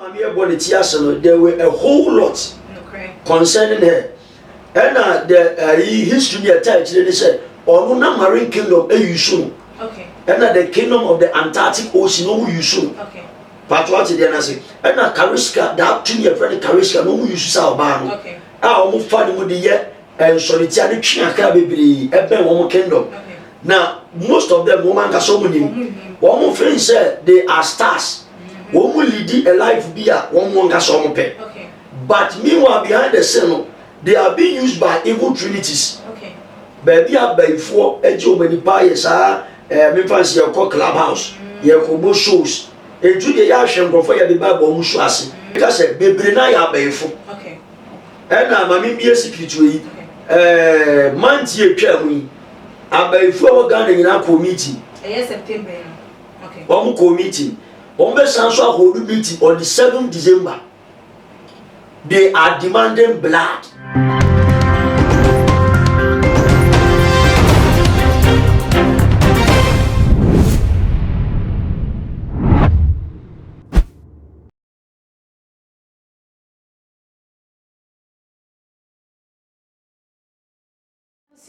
Maame yɛ bɔ ne ti ase no there were a whole lot concerning her ɛna the ayi uh, history bi ɛta akyire ne sɛ ɔno na marine kingdom eyi so no ɛna the kingdom of the antarctic ocean no ɔmo yi so no pato ɔte deɛ n'ase ɛna kariska that tumi yɛ fɛ ne kariska no ɔmo yi so sɛ ɔbaa no a ɔmo fa ne mu de yɛ. Nsɔretia no twe akra bebree ɛbɛn wɔn kingdom na most of them wɔn ankasa wɔn nim wɔn feel sɛ they are stars wɔn mu lidi a life bi a wɔn wɔn ankasa wɔn pɛ but meanwhile behind the scene no they are being used by evil trinities baabi a bɛyifoɔ agye wɔn ani paa yɛ saa ɛɛ eh, mefa nsi yɛkɔ club house mm. yɛkɔ bɔ shows etu deɛ yɛahwɛ nkurɔfoɔ yɛde bible wɔn so ase ɛka sɛ bebree na yɛ abɛyifo Ɛna ma me mbie sikirituo yi ɛɛɛ month yi etwa mu yi abayifoɔ a wɔ Ghana nyinaa kɔɔ meeting. Ɛyɛ September yi no. Okay. Wɔn kɔɔ meeting. Wɔn bɛ san so ahodo meeting on the seven December. They are demanding blood.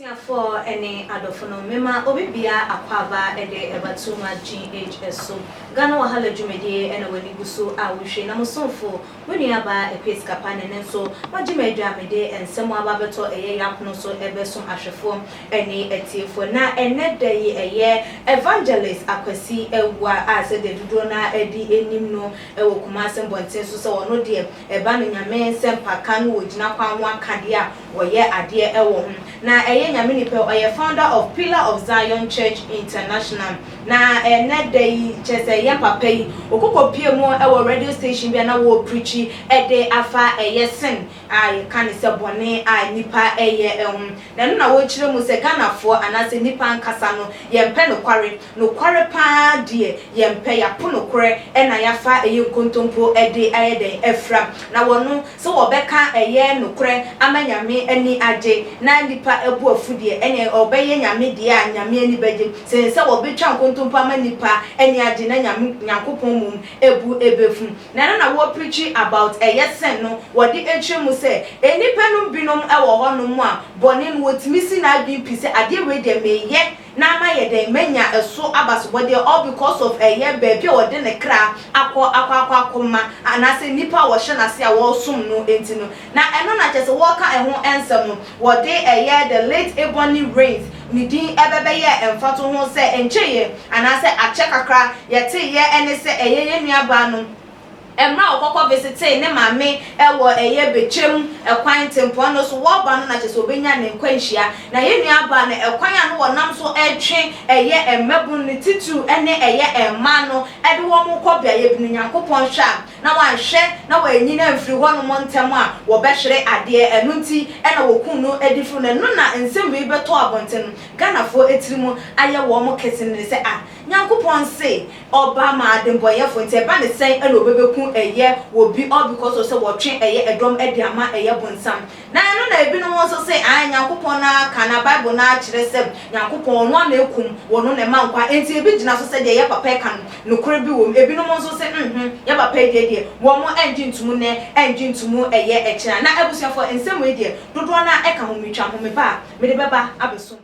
Abusuafoɔ ne adɔfo no, mema obi bia akwaaba de ɛba too much GH so. Ghana wahala dwumadie na w'ani gu so a wohwie na mo somfo, mo nua baa Akua Sikapa ne ne nso wagye me adwa mede nsɛm aba abɛtɔ ɛyɛ yɛ apono so ɛbɛso ahwɛfoɔ ne atiefoɔ na ɛnɛ da yi ɛyɛ Evangelist Akwasi Awuah a sɛdeɛ dodoɔ no ara de nim no wɔ Kumase mmɔnten so sɛ ɔno deɛ ɛba no Nyame nsɛmpa ka no wɔ gyina kwan ho akadeɛ a wɔyɛ adeɛ ɛwɔ ho na ɛyɛ Nyame nipa ɔyɛ founder of pillar of Zion church international na ɛnɛ da yi kyɛ sɛ yɛ papa yi ɔkokɔ pie mu ɛwɔ radio station bi a na wɔ preachi ɛde afa ɛyɛ sin a yɛ ka no sɛ bɔne a nipa ɛyɛ ɛho na ɛno na wɔ kyerɛ mu sɛ Ghana foɔ anaasɛ nipa ankasa no yɛ mpɛ nokware. Nokware paa deɛ yɛmpɛ, yɛapo nokorɛ na yɛafa ɛyɛ nkontompo de ayɛ dɛn? Afira. Na wɔno, sɛ wɔbɛka ɛyɛ nokorɛ ama Nyame ani agye na nnipa abu afu deɛ, ɛneɛ wɔbɛyɛ Nyame deɛ a Nyame ani bɛgye, sene sɛ wɔbetwa nkontompo ama nnipa ani agye na Nyame, Nyankopɔn, mmom ɛbu ɛbɛfu. Na ɛno na wɔ'preachi about ɛyɛ sɛn no, wɔ'de akyerɛ mu sɛ, Nnipa nom binom wɔ hɔ nom a bɔne no wɔ'tumi si n'adwen pi sɛ adeɛ wei deɛ meyɛ, na mayɛ dɛn manya ɛso abasobɔdeɛ all because of ɛyɛ baabi a ɔde ne kra akɔ akɔ akɔ akɔ ma anaasɛ nnipa a wɔhyɛ no ase a wɔresom no nti no na ɛno na kyɛsɛ wɔreka ɛho nsɛm no wɔde ɛyɛ the late Ebony Rains ne din ɛbɛbɛyɛɛ mfatoho sɛ nkyeyɛ anaasɛ akyɛ kakra yɛteeɛ ɛne sɛ ɛyɛ yɛn nuabaa no Mmerɛ a ɔkɔkɔ vesitee ne maame wɔ ɛyɛ bɛtwam kwan tempɔn no so wɔɔba no na kyerɛ sɛ ɔbɛnya ne nkwa nhyia na yɛ nua baa no ɛkwan a na wɔnam so retwe ɛyɛ mmabunu no titiriw ne ɛyɛ mmaa no de wɔn rekɔ beaeɛ bi no Nyankopɔn hwɛ a na wanhwɛ na wanyini amfiri hɔ nom ntɛm a wɔbɛhwere adeɛ ɛno nti na wɔkuu no adifiri no ɛno na nsɛm wei bɛtɔ abɔnten no Ghanafoɔ tirim ayɛ wɔn kesenene sɛ ah Nyankopɔn se Ɔba ma adembɔyɛfo, nti ɛba ne sɛn na obebeku ɛyɛ wɔ bi all because of sɛ wɔtwe ɛyɛ ɛdɔm de ama ɛyɛ bonsam. Na ɛno na ebinom nso se ae Nyankopɔn no ara ka na Bible no ara kyerɛ sɛ Nyankopɔn ɔno ara na ekum wɔno na ɛma nkwa nti ebi gyina so sɛ deɛ ɛyɛ papa ɛka no nokore bi wom ebinom nso se nhmm yɛ papa yi deɛ deɛ wɔn ɛngye ntomu nɛ ɛngye ntomu ɛyɛ ɛkyena na abusuafoɔ nsɛm wei deɛ dodoɔ no ara ɛka hometwa homeba a mede bɛba abɛsom.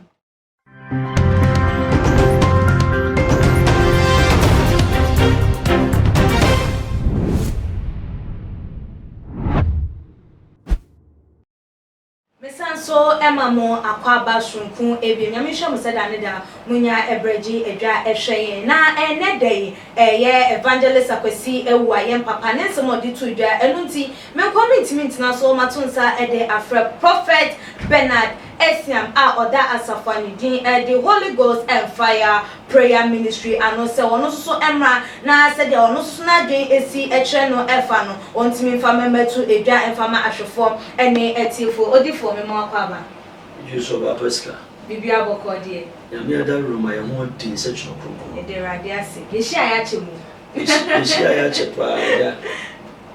Mesan nso ma mo akwaaba soronko abien. Nyame nhyira mo sɛda ne da. Monya ɛbrɛ gye adwa ɛhwɛ yɛn. Na ɛnɛ da yi ɛyɛ Evangelist Akwasi Awuah, yɛn papa, ne nsɛm a ɔde too dwa. Ɛno nti Menkɔ mentumi ntena so mato nsa de afrɛ Prophet Bernard Asiam a ɔda asafo a ne din de Holy Ghost and Fire Prayer Ministry ano sɛ ɔno nso so mmra na sɛdeɛ ɔno nso so n'adwene si kyerɛ no fa no ɔntumi mfa mma mmɛto dwa mfa ma ahwɛfoɔ ne atiefoɔ. Odifoɔ, me mma wakɔ aba. Jew so ɔba pɛ sika. Biribiara bɔkɔɔ deɛ. Nyame adaworoma yɛn ho adi nsɛkyerɛ kronkron. Yɛda Awurade ase. Yɛhyiaeɛ akyɛ mu. Yehyiae akyɛ paa agya.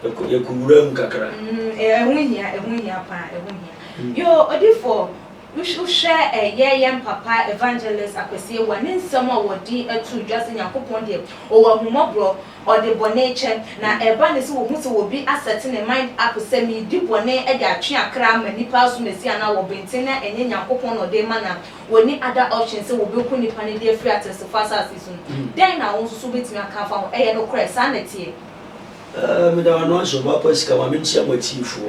Yɛkɔ yɛkɔ wura mu kakra. Mm, eh, ɛho hia, ɛho hia paa, ɛho hia. Mm. Yo, odifoɔ, wohwɛ ɛyɛ eh, yɛn papa evangelist Akwasi Awuah ne nsɛm a wɔde ato dwa sɛ Nyankopɔn deɛ ɔwɔ ahummɔborɔ, ɔde bɔne kyɛ, na mm. ɛba ne sɛ wɔhu sɛ obi asɛte ne mind up sɛ medi bɔne de atwe akra ama nnipa aso Mesia no a wɔbenten na ɛnyɛ Nyankopɔn na ɔde ma na Wɔnni other option sɛ wɔbɛku nnipa no de afiri ateasefo asase so no. Dɛn na wo nso wobɛtumi aka afa ho? Ɛyɛ nokorɛ, saa na ɛteɛ. Eh, meda wano ase, ɔbaa Kwasika, Maame nkyia mo atiefo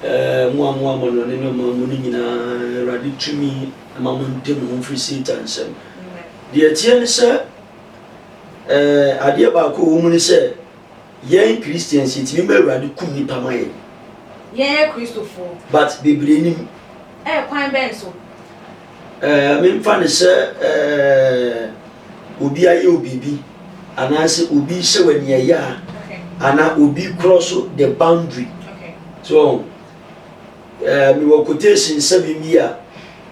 eh, mo a mo amano ne ne ɔman mu no nyinaa, Awurade tumi ma mo ntem ho mfiri Satan nsam. Deɛ ɛteɛ ne sɛ eh, adeɛ baako a ɛwɔ mu ne sɛ, Yɛn Christians yɛtumi ma Awurade kum nipa ma yɛn. Yɛn yɛ Kristofoɔ. But bebree nim. Ɛɛ kwan bɛn so? Ɛɛ eh, memfa ne sɛ ɛɛ eh, obi ayɛ obibi anaasɛ obi hyɛ wɔ nea ɛyɛ a anaa obi korɔ so the boundary. So ɛɛ eh, mewɔ quotation sɛbi bi a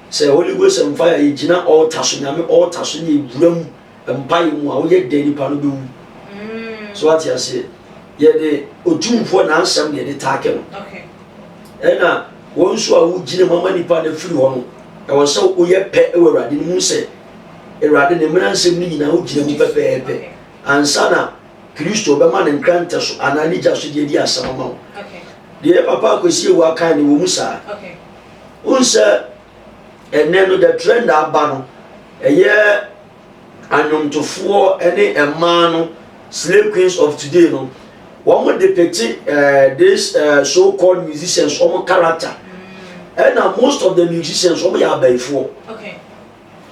sɛ Holy Ghost and fire yɛ gyina altar so nyame altar so ne ewura mu mpaeɛ mu a woyɛ dɛn nipa no bɛwu so wate aseɛ yɛde otumfoɔ n'asɛm na yɛde taake no ɛna wɔn nso a wogyina mu ama nipa no afiri hɔ no ɛwɔ sɛ woyɛ pɛ wɔ awurade no mu sɛ awurade ne mmara nsɛm no nyinaa wogyina mu pɛpɛɛpɛ ansa na kristo bɛma ne nkrantɛ so anaa ne gya so deɛ di asɛm ama wo deɛ papa akwasi ewu akan ne wɔ mu saa wohu sɛ ɛnnɛ no the trend aba no ɛyɛ anwomtofoɔ ne mmaa no slay queens of today no wɔn de pete uh, this uh, so called musicians wɔn character ɛna mm. most of the musicians wɔn yɛ abayifoɔ. Okay.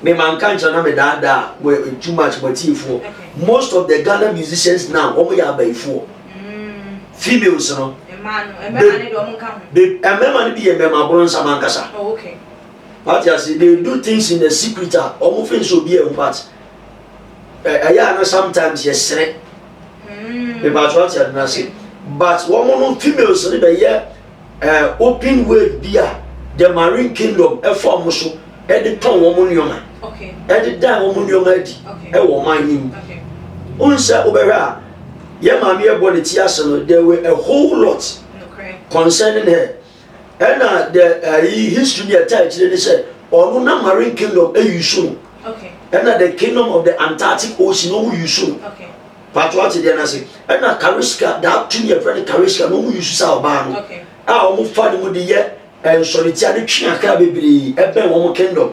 Me manka nkyerɛ na me daadaa mo eh, too much mo atiefoɔ most of the Ghana musicians now wɔn yɛ abayifoɔ mm. females no mmarima no bi yɛ mmarima aboro nsam ankasa oh, wate ase they do things in the secret a wɔn fɛn so obi a ɛwɔ part ɛyɛ a no sometimes yɛ sere mepatro ate ade no ase but wɔn no females no bɛyɛ. Ɛɛ open wave bi a the marine kingdom ɛfa wɔn so ɛde tɔn wɔn nneɛma ɛde dan wɔn nneɛma adi ɛwɔ ɔman no mu ohun sɛ wobɛhwɛ a yɛ maame ɛbɔ ne ti ase no there were a whole lot concerning her ɛna the ɛyi uh, history bi ɛta akyire ne sɛ ɔno na marine kingdom ɛyi so ɛna the kingdom of the antarctic ocean ɔmo yi so Pato ate deɛ no ase ɛna kareska daa tumi a ɛfrɛ no kareska na wɔn yusu saa ɔbaa no a wɔn fa ne mu de yɛ eh, nsɔretia de twe akra bebree ɛbɛn wɔn kingdom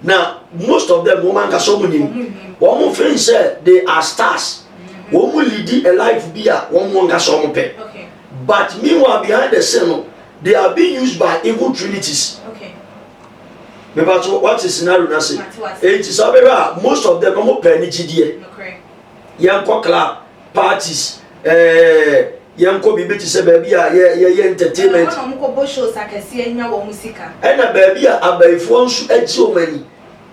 na most of them wɔn ankasa wɔn nim wɔn feel sɛ they are stars wɔn mu lidi a life bi a wɔn wɔn ankasa wɔn pɛ but meanwhile behind the scene no they are being used by evil trinities. Okay mepatso wate scenario no ase enti sɛ wobɛhwɛ a most of them ɔmo pɛ ne gyidie yɛnkɔ club parties ɛɛ yɛnkɔ biribi te sɛ baabi a yɛ yɛyɛ Ɛna entertainment wɔn a wɔn kɔbɔ shows akɛseɛ nya wɔn sika. ɛna baabi a abayifoɔ nso agye wɔn ani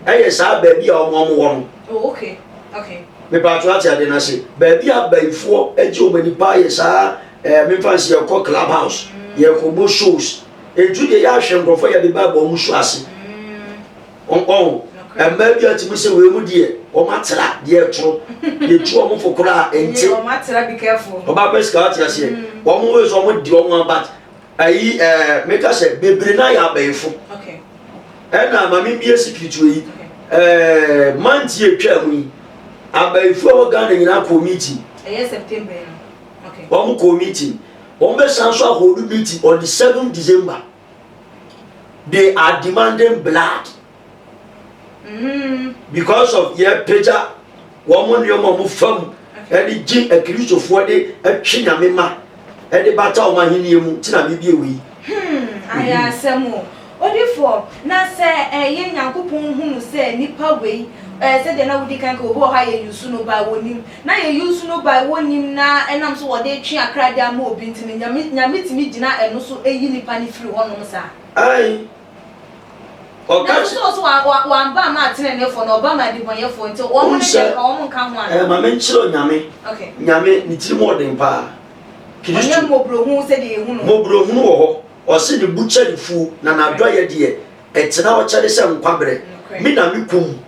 ɛyɛ saa baabi a wɔn a wɔn wɔ no Oh okay okay. mepatwo ate adeɛ no ase baabi a abayifoɔ agye wɔn ani paa yɛ saa ɛɛ memfa nsi yɛkɔ club house yɛkɔbɔ shows ntu deɛ yɛahwɛ nkurɔfoɔ yɛde ba abɔ wɔn so ase Mm. Ɔho, mmaa bi a tumi sɛ wei mu deɛ wɔn atera deɛ ɛtoro yɛtu wɔn fo koraa nti wɔn atera bi kɛfo ɔbaa pɛ sika ɔte aseɛ mm. wɔn wei so wɔn di wɔn abat ayi ɛɛ meka sɛ bebree na yɛ abɛɛfo ɛna maame bi esi kirituo yi ɛɛ manti atwa mu yi abɛɛfo a wɔ ghana nyinaa kɔɔ meeting ɛyɛ september no wɔn kɔɔ meeting wɔn bɛ san so akɔɔ do meeting on the seven december. they are demanding blood mm. because of yɛpagya wɔn mo nneɛma wɔn fam ɛde gye akirisofoɔ de atwe nyame ma ɛde bata wɔn ahenni mu ti na bibie wei. Hmm, ayɛ asɛm o odifoɔ na sɛ ɛyɛ nyankopɔn hunu sɛ nipa wei ɛɛ sɛdeɛ na wodi kan ka obi wɔ hɔ a yɛ yusu no ba wɔ nim. Na yɛ use no by wɔ nim na ɛnam so wɔde twe akra de ama obi nti no nyame nyame tumi gyina ɛno so yi nipa no firi hɔ nom saa. Ae ɔka kyerɛ. Nanso so ɔse wa wa wamba mmaa teneneefoɔ na ɔba ma adibɔnyɛfoɔ nti wɔn ne deɛ nka wɔn nka ho anaa. Ɛɛ ma me nkyerɛ wo nyame okay. Nyame ne tiri mu ɔden paa. Kristo. Ɔnyɛ mmɔborohunu sɛdeɛ yɛ hu no. Mmɔborohunu wɔ hɔ ɔse ne bo kyɛre fuo na n'adɔyɛ deɛ ɛtena hɔ kyɛre sɛ nkwa berɛ. Me na me kum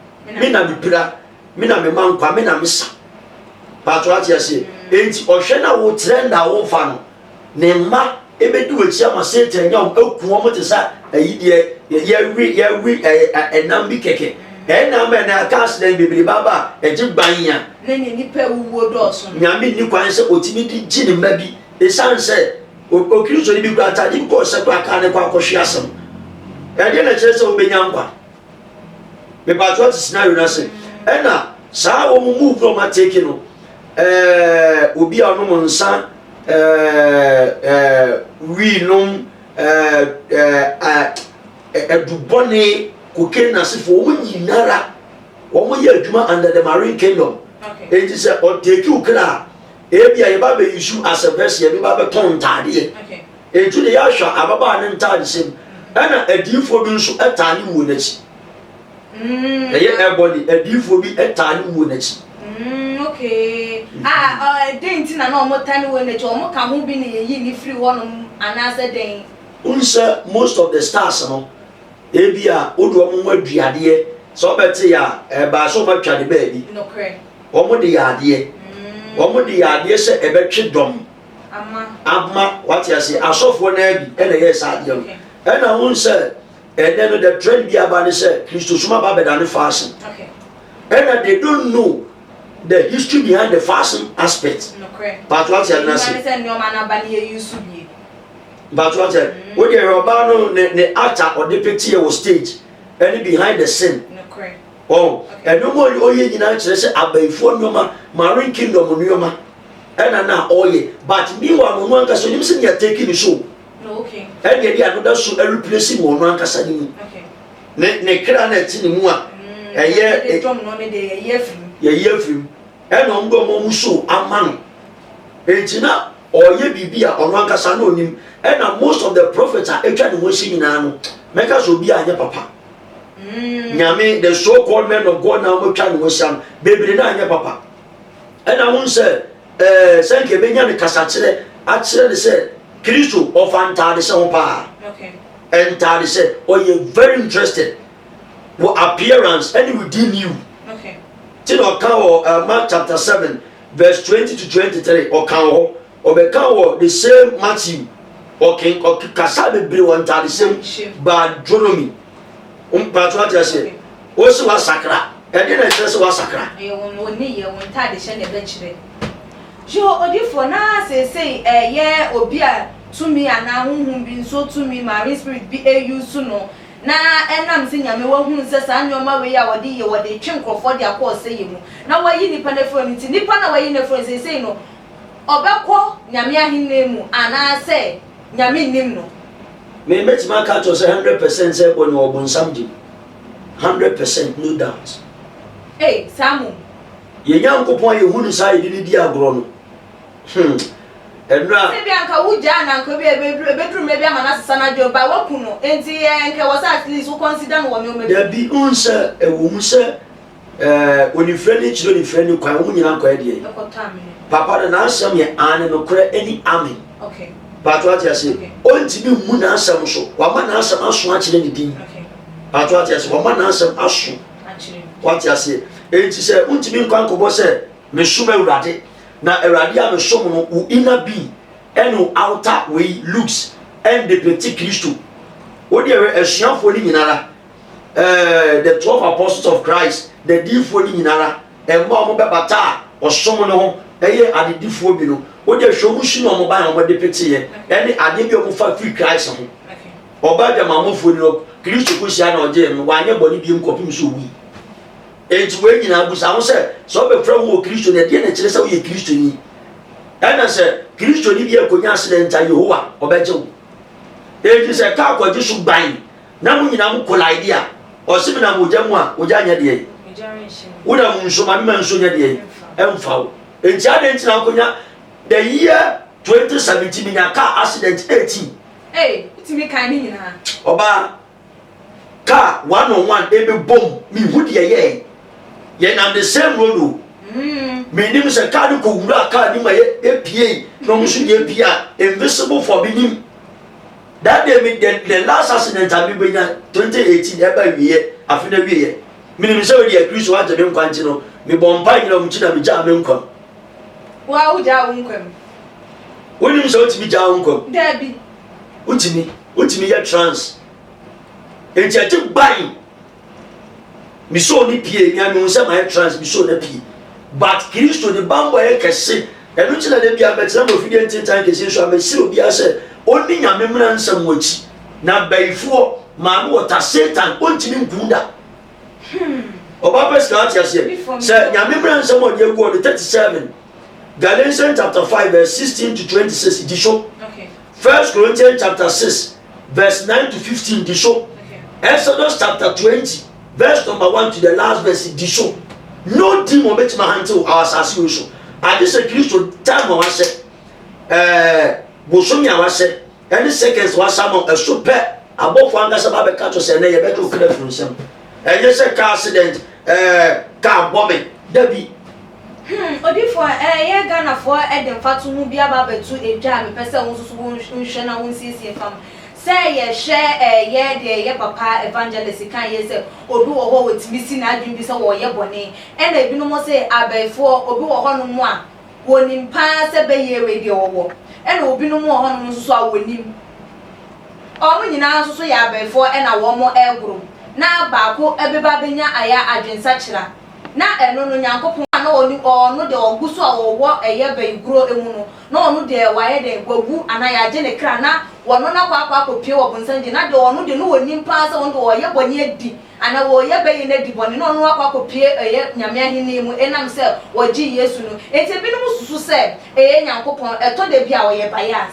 me na me pira me na mema nkwa me na mesa pato ate aseɛ enti ɔhwɛ na wotrɛ nna a womfa no ne mma ɛbɛdi w'akyi ama satan nya wɔn aku wɔn te sɛ ayi deɛ yɛwe yɛwe ɛnam bi kɛkɛ ɛnam ɛnɛ aka asedɛn bebree baaba a ɛgye ban ya ne ne nipa awuo dɔɔso nyame nni kwan sɛ ɔtumi de gye ne mma bi ɛsiane sɛ okristo no bi kora atade bi kɔɔ sɛ kora kaa ne kɔ akɔhwe asɛm ɛdeɛ na kyerɛ sɛ wobɛnya nkwa mepatwa ɔte scenario no ase ɛna saa wɔn mu move no ɔma take no ɛɛ obi a ɔnom nsa ɛɛ ɛɛ wii nom ɛɛ ɛɛ ɛdubɔne kokaine asefo wɔn nyinara wɔn yɛ adwuma under the marine kingdom eti sɛ ɔtake okra a ebi a yɛba bɛ yisu as a verse yɛ bi ba bɛ tɔn ntaadeɛ. Enti ne yea hwɛ ababaa no ntadehyɛ mu, ɛnna adiyifoɔ bi nso taa ne wuo no akyi. Mm, Ɛyɛ ah, ɛbɔne, adiyifoɔ bi taa ne wuo no akyi. mm, okay. Ah, ah, dɛn nti na na wɔta ne wɔ n'akyi? Wɔka ho bi na yɛyi ne firi hɔnom anaasɛ dɛn? Wohu sɛ most of the stars no, ebi a wode wɔn ho adua adeɛ, sɛ wɔbɛte yɛ a, ɛbaa sɛ wɔatwa ne baabi. Nokorɛ. Wɔde yɛ adeɛ. Mm. Wɔde yɛ adeɛ sɛ ɛbɛtwe dɔm. Ama. Ama, wate aseɛ, asɔfoɔ no bi ɛna ɛyɛɛ saa adeɛ no. Ɛna wohu sɛ ɛnɛ no the trend bi aba ne sɛ Kristosom aba abɛda ne fashion. Ɛna they don't know the history behind the fashion aspect. Pato ate ɛna se. Pato ate mm. wo deɛ ɔbaa no ne ne ata ɔde peteɛ wɔ stage ɛne behind the scene. Ɔn, nnoɔma a ɔyɛ nyinaa kyerɛ sɛ abayifoɔ nnoɔma, marine kingdom nnoɔma ɛna na ɔyɛ but meanwhile no ɔno ankasa ɔnim sɛ nea take ne so ɛne ɛde anoda so ɛreplace no ɔno ankasa ne mu ne ne kra na ɛte ne mu a ɛyɛ yɛyi afiri mu ɛna ɔmo de ɔmo ɔmo so ama no enti na ɔyɛ biribi a ɔno ankasa na ɔnim ɛna most of the prophets a atwa ne ho ahyia nyinaa no mɛka sɛ obi a anyɛ papa mm. nyame the so called men of god na wɔatwa ne ho ahyia no bebree na anyɛ papa ɛna ho sɛ ɛɛ sɛ nka ebenya ne kasakyerɛ akyerɛ ne sɛ kristo ɔfa ntaade hyɛ ho paa ntaade hyɛ ɔyɛ very interested wɔ appearance ɛne wɔ di new ti na ɔka wɔ ɛɛ mark chapter seven verse twenty to twenty three ɔka wɔ hɔ. Ɔbɛka wɔ the same Matthew ɔke ɔke kasa bebree wɔ ntadesɛm baa Deuteronomy mpatsɔ ɔte aseɛ ɔsi wasakra ɛdeɛ na ɛkyerɛ sɛ wasakra. Ɛyɛ wɔn wɔn nneyɛ wɔn ntadehyɛ na ɛbɛkyerɛ. Jeho odifoɔ na seesei ɛyɛ obi a tumi anaa honhom bi nso tumi marine spirit bi use no na ɛnam sɛ Nyame wahunu sɛ saa nneɛma wei a wɔde yɛ wɔde twe nkorɔfoɔ de akɔ ɔsɛeɛ mu na wayi nipa no afiri hɔ no nti nipa no a wayi no afiri hɔ no seesei no ɔbɛkɔ Nyame ahennie mu anaa sɛ Nyame nnim no. Me mɛtumi aka akyerɛ wo sɛ hundred percent sɛ ɛbɔ no wɔ bonsam gye mu. Hundred percent no doubt. Ei saa mmom. Yɛn Nyankopɔn a yɛhu no saa a yɛde no di agorɔ no hmm ɛno a. Sɛ ebia nka wo gyaa no a nka ebia ɛbɛduru ɛbɛduru mmerɛ bi ama no asesa n'adwene but woaku no enti ɛɛ nka ɛwɔ sɛ at least wo consider no wɔ nneɛma bi mu. Dabi, wohu sɛ ɛwɔ mu sɛ Ɛɛ, onifirɛ ne nkyerɛ onifirɛ ne kwan, wɔn nyinaa kɔ ɛdeɛ. Papa no n'asɛm yɛ aane nokorɛ ɛne amen. Okay. Paato ate ase. Okay. Ɔntumi mmu n'asɛm so. Wama n'asɛm aso akyerɛ ne din. Okay. Paato ate ase. Wama n'asɛm aso. Akyerɛ. Wate ase. Enti sɛ wontumi nkwa nkɔbɔ sɛ mesom awurade na awurade a mesom no wo inner being ɛne wo outer wei looks ɛndepɛti kristo wode ɛwɛ asuafoɔ no nyinara ɛɛ the twelve apostles of christ n'adiyifoɔ no nyinara ɛma wɔn bɛbata a ɔsom no ho ɛyɛ adedifoɔ bi no wode hwɛ wɔn su na wɔn ban wɔn de peteeɛ ɛne adeɛ bi a wɔn fa firi christ ho ɔbaa adwamammɔfoɔ ni no kristo ko hyia na ɔgye no wanyɛ bɔne biem kɔpem so wui enti wɔn nyinaa busa ho sɛ sɛ ɔbɛfrɛ ho wɔ kristo no ɛdeɛ na ɛkyerɛ sɛ woyɛ kristo ni ɛna sɛ kristo ni bi akonya asedɛ nta yehowa ɔbɛgye wo enti sɛ kaa kɔgye so ban Na mo nyinaa mo collide a, ɔse menam ogya mu a, ogya nyɛ deɛ yi. Wonam nsuo mu a, mema nsuo nyɛ deɛ yi. Ɛmfa wo. Enti adɛn nti na wokɔnya the year 2017 menya car accident 18. Ei, wotumi kan ne nyinaa. Ɔbaa, car one on one ɛbɛbom, mehu deɛ yɛɛ. Yɛnam the same road o. Mm. Menim sɛ car no kɔwura car no mu a yɛpiei na ɔmo nso deɛ pie a, invisible for menim. That day me the, the last accident a mebɛnya 2018 ɛba wieɛ afe no awieɛ menim sɛ wode akristo agye me nkwa nti no mebɔ mpa nyina ɔmkyi na megyaa me nkwam woa wogyaa wo nkwam wonim sɛ wotumi gyaa wo nkwam daabi wotumi wotumi yɛ trans enti ɛgye ban Misoo ne pie, nea mehu sɛ mayɛ trans, misoo na pie. But Kristo ne bambɔ yɛ kɛse. Ɛno nti na da biara mɛtena mu afidie ntentan kɛse nso a mɛsrɛ obiara sɛ ɔnni nyame mmara nsɛm wɔ akyi. Na bayifoɔ, maame wɔta Satan, ɔntumi nkuu da. Hmm. Ɔbaa pɛ sika ate aseɛ. Sɛ nyame mmara nsɛm ɔde agu ɔde 37 Galatians chapter 5 verse 16 to 26 di so. Okay. First Corinthians chapter 6 verse 9 to 15 di so. Exodus chapter 20 verse number 1 to the last verse di so. No demon betumi ahantew wɔ asase wei so. Agye sɛ Kristo time a wahyɛ, ɛɛ bosomi a wahyɛ, ɛne seconds wahyɛ ama ɛso pɛ abɔfo ankasa ba bɛka to sɛ ɛnɛ yɛbɛka okura funu nsɛm. Ɛnyɛ sɛ car accident, ɛɛ car bɔ me. Dabi. Hmm, odifoɔ, ɛyɛ Ghanafoɔ de mfatoho bi aba abɛto dwa a mepɛ sɛ wo nso so wohwɛ na wonsiesie fa ho. Sɛ yɛhwɛ ɛyɛ deɛ ɛyɛ papa Evangelist kae yɛ sɛ obi wɔ hɔ a wɔtumi si n'adwene bi sɛ wɔreyɛ bɔne, ɛna ebinom se abɛɛfoɔ, obi wɔ hɔnom a wɔnim pa ara sɛ bɛyɛ wei deɛ ɔwɔ, ɛna obinom wɔ hɔnom nso so a wɔnim. Wɔn nyinaa nso so yɛ abɛɛfoɔ na wɔregoro, na baako bɛba abɛnya ayɛ adwensakyera Na ɛno no Nyankopɔn a na ɔnim ɔno deɛ ɔgu so a ɔwɔ ɛyɛ bɛn kuro mu no, na ɔno deɛ wayɛ dɛn, wawu anaa yɛagye ne kra, na wɔno no akɔ akɔ akɔpue wɔ bonsam nkyɛn, na deɛ ɔno deɛ na ɔnim paa sɛ ɔno deɛ ɔreyɛ bɔne adi, anaa ɔreyɛ bɛyɛ no adi bɔne, na ɔno akɔ akɔpue ɛyɛ Nyame ahennie mu ɛnam sɛ wɔgyee Yesu no. Enti ebinom susu sɛ ɛyɛ Nyankopɔn, ɛtɔ da bi a ɔyɛ bias.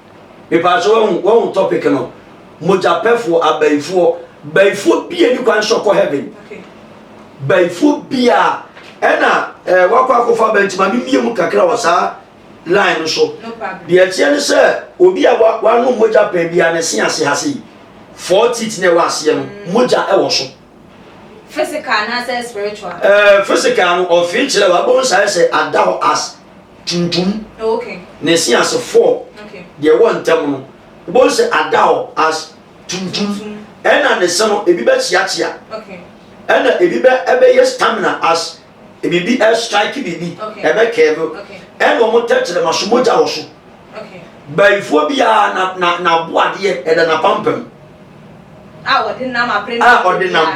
Mepaa sɛ wahu wahu topic no mogyapɛfoɔ abaifoɔ baifoɔ bi a ni kwan sɛ ɔkɔ heaven baifoɔ bi a ɛna ɛɛ wakɔ akɔfa abɛn nti maame mie mu kakra wɔ saa line no so deɛ ɛteɛ ne sɛ obi a wano mogya pɛn bi a ne se ase ha sei four teeth na ɛwɔ aseɛ no mogya ɛwɔ so. physical anaasɛ spiritual. ɛɛ eh, physical no ɔfin kyerɛ wa bɔn sa ɛsɛ ada hɔ as tuntum na ɛsi ase fɔɔ deɛ ɛwɔ ntam no wobɛhu sɛ ada hɔ as tuntum ɛna ne se no ebi bɛkyeakyea ɛna ebi bɛ ɛbɛyɛ stamina as biribi ɛstrike biribi ɛbɛkɛɛbe ɛna wɔn tɛkyerɛma so mogya wɔ so bayifoɔ biara na na n'aboadeɛ ɛda n'apampam a ɔde nam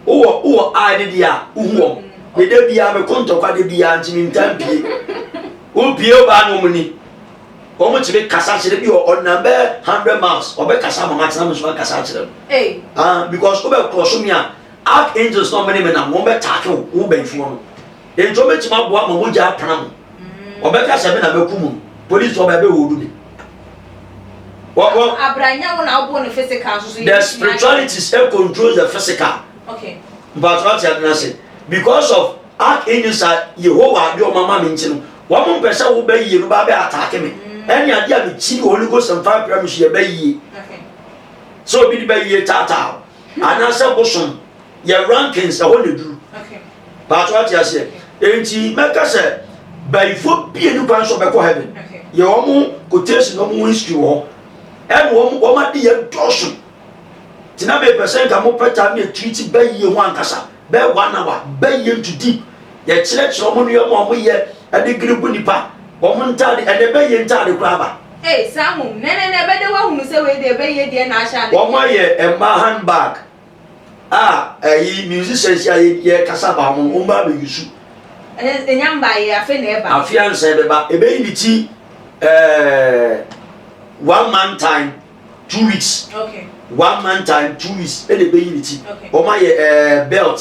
Wowɔ wowɔ eye ne deɛ a wohu wɔn ne da biara meko ntɔkwa da biara nti mentaa mpie wompie wo baa ne wɔn ni wɔn tumi kasa kyerɛ bi wɔ ɔnam bɛ hundred miles ɔbɛkasa ma matena me so akasa akyerɛ no ah because wobɛkorɔ so me a archangels na ɔmene me nam wɔn bɛtaake wo wo bɛnfoɔ no Enti wɔbɛtumi aboa ma mogya apena mo. Wɔbɛka sɛ me na mɛku mo no, polisifo aba ɛbɛhoodu me. Wɔkɔ. Abranya wo na wobɔ no physical nso so. The spiritualities it controls the physical. Okay. But what you are saying, because of act in this Yehovah de ɔma ma me nti no, wɔn mpɛ sɛ wobɛ yie no ba bɛ ataake me. Mm. Ɛne adeɛ a mekyi wɔ Holy Ghost mfa apira me so yɛ bɛ yie. Sɛ obi de bɛ yie taataa o, anaasɛ bosom yɛ rankings ɛhɔ na eduru paatwa ate aseɛ enti mɛka sɛ bayifo bie ne kwan so bɛkɔ heaven yɛ wɔn quotation wɔn ho history wɔ hɔ ɛna wɔn wɔn ade yɛ dɔɔso tena bɛ pɛ sɛ nka mo pɛ ta ne tiri ti bayie ho ankasa bɛ one hour bayie nto deep yɛkyerɛkyerɛ wɔn nneɛma a wɔyɛ ɛde giri gu nipa wɔn ntaade ɛna ɛbɛyɛ ntaade koraa ba. Ee saa ho nɛnɛnɛ bɛde wahunu sɛ wei deɛ ɛbɛyɛ deɛ na ahyɛ ade. Wɔn ayɛ mmaa handbag A ɛyi musicians a yɛ kasa ba wɔn wɔn ba bɛ yusu. Ɛnɛ enya mba yɛ afe na ɛba. Afe ansa ɛbɛba ɛbɛyi ne ti ɛɛ one month time two weeks. Okay. One month time two weeks ɛna ɛbɛyi ne ti. Okay. Wɔn ayɛ ɛɛ belt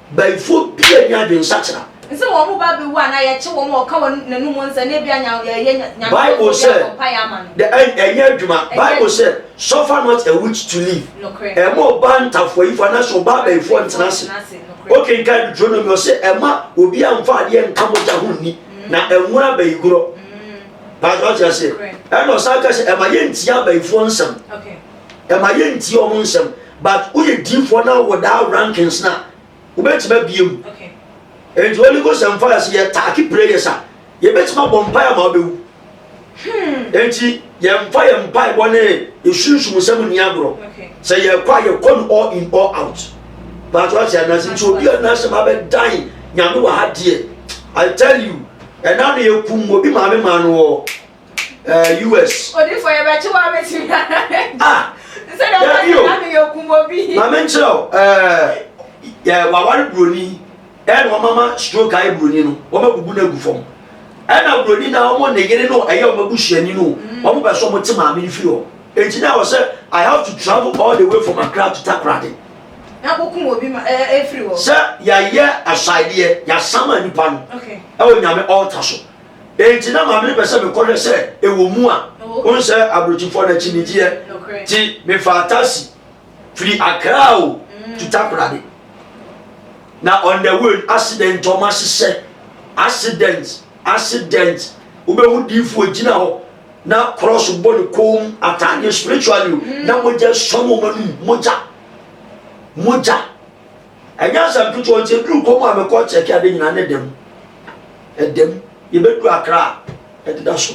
Bayifoɔ bi a nni adwene sakyera. Nsɛ wɔn mu ba bɛwu anaa yɛkye wɔn a wɔka wɔn n'anom nsɛ na ebia nya yɛyɛ Nyame Bible bɔfoɔ bi sɛ abɔ mpaeɛ ama no. dɛ ɛn ɛnyɛ adwuma. Ɛnyɛ Bible adwuma. sɛ suffer not a witch to live. Nokorɛ. Ɛmma ɔbaa ntafoayifoɔ anaasɛ ɔbaa bayifoɔ Bayifoɔ ntena ase. ntena ase. Nokorɛ. Wokenkan Deuteronomy ɔse ɛmma obiara mfa adeɛ nka mogya ho nni na ɛnwono abayigorɔ. Paatɔ ɔte aseɛ. Nokorɛ. Ɛna ɔsan ka sɛ ɛmma yɛntie abayifoɔ nsɛm. Okay. ɛma yɛntie ɔmo nsɛm but woyɛ diifoɔ na wɔ daa rankings na wobɛtumi abie mu nti holy ghost and fire sɛ yɛ taaki prayers a yɛbɛtumi abɔ mpae ama wobɛwu hmm. nti yɛmfa yɛ mpae bɔ ne yɛsunsum sɛm nni agorɔ sɛ yɛkɔ a yɛkɔ no all in all out but wate anase nti obi a nasɛm abɛdan nyame wɔ ha deɛ i tell you ɛna no yɛkum obi maame maa no wɔ ɛɛ us. odifo yɛ bɛkye wa bɛ si na. ah nsɛ dɛ ɔbɛ yɛ na mi yɛ kun bɔ bi. maame nkyerɛ o ɛɛ yɛ wawari buroni ɛna wɔn ama stroke ayɛ buroni no wɔn abubu na egu fam ɛna buroni na wɔn ne yere no ɛyɛ wɔn abusuani no wɔn bɛ so wɔn te maame no firi hɔ eti na wɔ sɛ i have to travel all the way from akra to takoradi. n'akoko wɔ bi ma ɛɛ efiri hɔ. sɛ yɛayɛ ahyɛadeɛ yɛasama nipa no ɛwɔ nyame ɔɔta so. Enti na Maame no pɛ sɛ mekɔ hwɛ sɛ ɛwɔ mu a. Wohu sɛ aburokyifoɔ no akyinnyegyeɛ. Nti mefaa taxi firi Accra o, to Takoradi. Na on the way no, accident a wɔahyehyɛ, accident, accident. Wobɛhu diifo ogyina hɔ na cross bɔ ne kɔn mu, ataadeɛ spiritually o, na mogya sɔ no wɔn anum, mogya, mogya. Ɛnyɛ asɛm ketewa nti eduru kɔm a mekɔ kyɛke ade nyinaa ne dɛm. Ɛdɛm yɛbɛduru akra a ɛdeda so.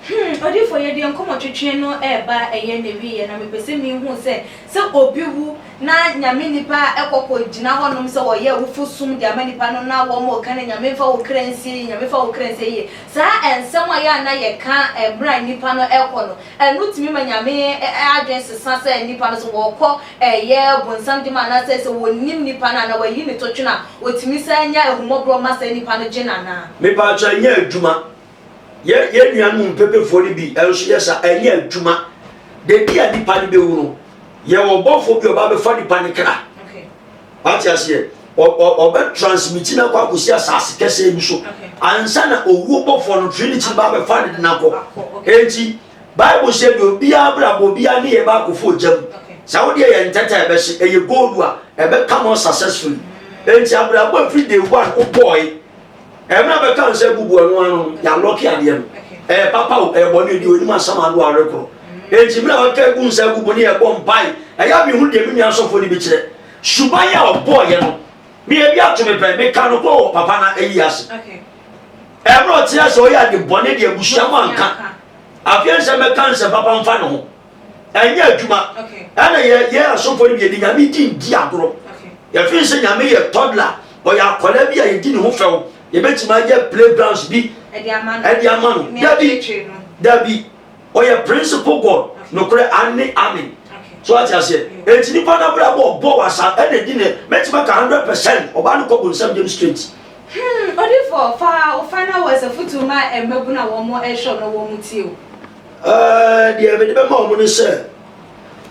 Hmm, odiyifoɔ yɛdeɛ nkɔmɔtwetwe no ɛɛba a ɛyɛ n'awieɛ na mepɛ sɛ mehunu sɛ sɛ obi wu na Nyame nnipa a ɛkɔ kɔ gyina hɔ nom sɛ wɔyɛ awufo som de ama nnipa no na wɔn mo ka no Nyame mfa wo kra nsie yie Nyame fa wo kra nsie yie saa ɛnsɛm a yɛ a na yɛ ka ɛmmerɛ a nnipa no ɛkɔ no ɛno tumi ma Nyame adwene sesa sɛ nnipa no so wɔkɔ Ɛyɛ Ɔbonsam dwuma anaasɛ sɛ wɔnnim nnipa no a, na wɔayi no totwene a, wɔtumi san nya ahummɔborɔ ma saa nnipa no gye no anaa? Me pa akyɛw ɛnyɛ adwuma yɛ yɛn nuanom mpɛpɛfoɔ no bi nso yɛ saa ɛnyɛ adwuma dabi a nipa no bɛwu no yɛ wɔ bɔfoɔ bi ɔba bɛfa nipa no kra wate aseɛ ɔbɛ transmiti no akɔ akɔsi asase kɛsɛ bi so ansa na owuo bɔfoɔ no trinity ba bɛfa ne de no akɔ enti Bible sɛ deɛ obiara abrabɔ obiara ne yɛ baakofo ogya mu. Sɛ wo deɛ yɛ ntɛtɛ a ɛbɛhye, ɛyɛ gold a ɛbɛka more successfully. Enti abrabɔ a ɛfiri day one wobɔɔe, ɛmɛ a bɛka nsa abubu ɛno ano no, yɛalɔke adeɛ no. Ɛyɛ papa o, ɛyɛ bɔne o, deɛ onim asɛm ano a ɔrekoro. Enti mmerɛ a waka agu nsa abubu ne yɛbɔ mpae, ɛyɛ a mehu deɛ me nua asɔfoɔ no bi kyerɛ. Suban a ɔbɔɔeɛ no, me ebi ato me pɛ, meka no korɔ wɔ papa no ayi ase. Ɛberɛ a ɔteɛ sɛ ɔyɛ ade bɔne de abusua mu anka afei nsɛ mɛka nsɛ papa mfa ne ho ɛnyɛ adwuma ɛna yɛ yɛ asɔfo no yɛde nyame di di agorɔ yɛfiri sɛ nyame yɛ tɔdla ɔyɛ akwadaa bi a yɛdi ne ho fɛw yɛbɛtumi ayɛ playgrounds bi ɛde ama no dabi dabi Ɔyɛ principle God, nokorɛ, aane, amen. So wate aseɛ? Enti nipa no abrabɔ ɔbɔ wɔ asa ɛna edi ne, mɛtumi aka hundred percent ɔbaa no kɔ bonsam gyem straight. Hmm odifoɔ fa wo final words afutuo ma mmabunu a wɔn ɛhwɛ wo na wɔn mo tie o. Ɛɛɛ deɛ mede bɛma wɔn ne sɛ,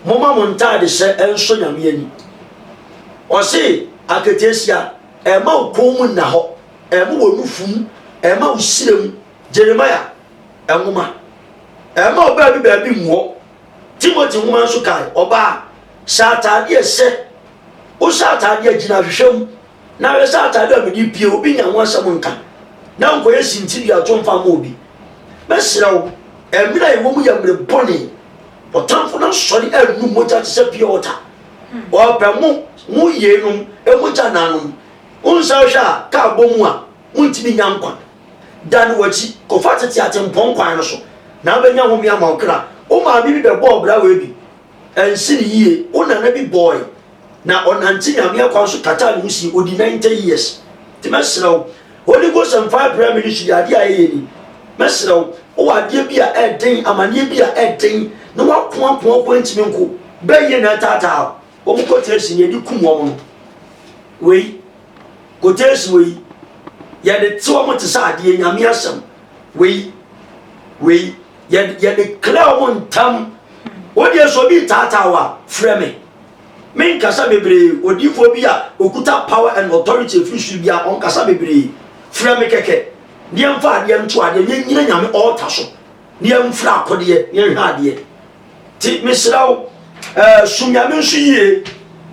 moma mo ntaade hyɛ ɛnsɔ Nyame ani. Ɔse aketeesia ɛma wo kɔn mu nna hɔ, ɛma wo nufu mu, ɛma wo sire mu. Jeremiah nwoma, ɛma ɔbaa bi baabi mmuɔ. Timothy nwoma nso kae ɔbaa, hyɛ ataadeɛ a ɛhyɛ, wohyɛ ataadeɛ a gyina ahwehwɛ mu, na hwɛ sɛ ataadeɛ a mede pie obi nya ho asɛm nka, na nkɔyɛ sintidua to mfa ma obi. Mɛsrɛ wo, ɛmmerɛ a ɛwɔ mu yɛ mmerɛ bɔne, ɔtamfo no asɔre annu mogya te sɛ pure water. Ɔpɛ mo, mo yeinom, mogya naanom. Wonsan hwɛ a, kaa bɔ mu a, montumi nya nkwa. Dan w'akyi kɔfa tete atempɔn kwan no so, na wobɛnya home ama wo kra. Wo maame bi bɛbɔɔ braawa bi, ansi no yie. Wo nana bi bɔɔe, na ɔnante Nyame akwan so kataa ne ho sii, ɔdi 90 years. Nti mɛsrɛ wo, Holy Ghost mfaa brɛ me ne su yi, adeɛ a ɛyɛ ni. Mɛsrɛ wo, wowɔ adeɛ bi a ɛden, amaneɛ bi a ɛden, na woako ako ako antumi nko, bɛyɛ na ataataa wo. Wɔn kɔtee sini, ɛde kum wɔn no. Wei. Quotation wei yɛde te wɔn te sɛ adeɛ nyame asɛm wei wei yɛde yɛde kila wɔn ntam wodeɛ so obi taataa wa frɛ me me nkasa bebree odiifoɔ bi a okuta power and authority efiri su bi a ɔnkasa bebree frɛ me kɛkɛ deɛ nfa adeɛ nto adeɛ nyɛ nyina nyame ɔɔta so deɛ nfra akodeɛ nyɛ nhwɛ adeɛ. Nti mesrɛ wo, eh, som Nyame nso yie.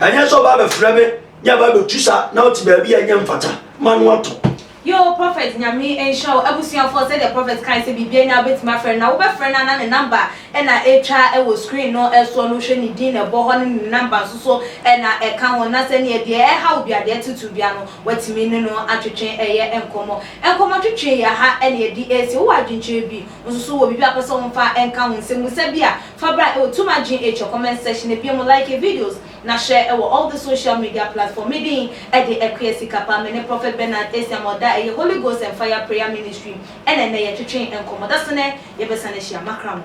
Ɛnyɛ sɛ ɔba abɛfrɛ me ne aba abɛtu sa na ɔte baabi a ɛnyɛ mfata ma no atɔ. Yoo prophet Nyame nhyira wo abusuafoɔ sɛdeɛ prophet kae sɛ biribiara nyinaa wobɛtumi afrɛ no na wobɛfrɛ no a na ne number na ɛtwa wɔ screen no soɔ no wohwɛ ne din na ɛbɔ hɔ ne ne number nso so na ɛka ho na sɛdeɛ deɛ ɛha wo biara deɛ ɛtetew biara no woatumi ne no atwetwe ɛyɛ nkɔmmɔ nkɔmmɔtwetwe yɛ ha na yɛde ɛresie wowɔ adwenkyerɛ bi Wosusu wɔ biribi a wopɛ sɛ wɔmfa nka ho nsɛmmisa bi a, fa bra wɔ Tum Adwene Atwa comment section no bio mu like videos na hyɛ wɔ all the social media platform. Me din de Akua Sikapa. Me ne Prophet Bernard Asiamah Odah a ɛyɛ Holy Ghost and Fire Prayer Ministry na ɛnnɛ yɛtwetwe nkɔmmɔ. Dasene yɛbɛsan ahyia. Makra mo.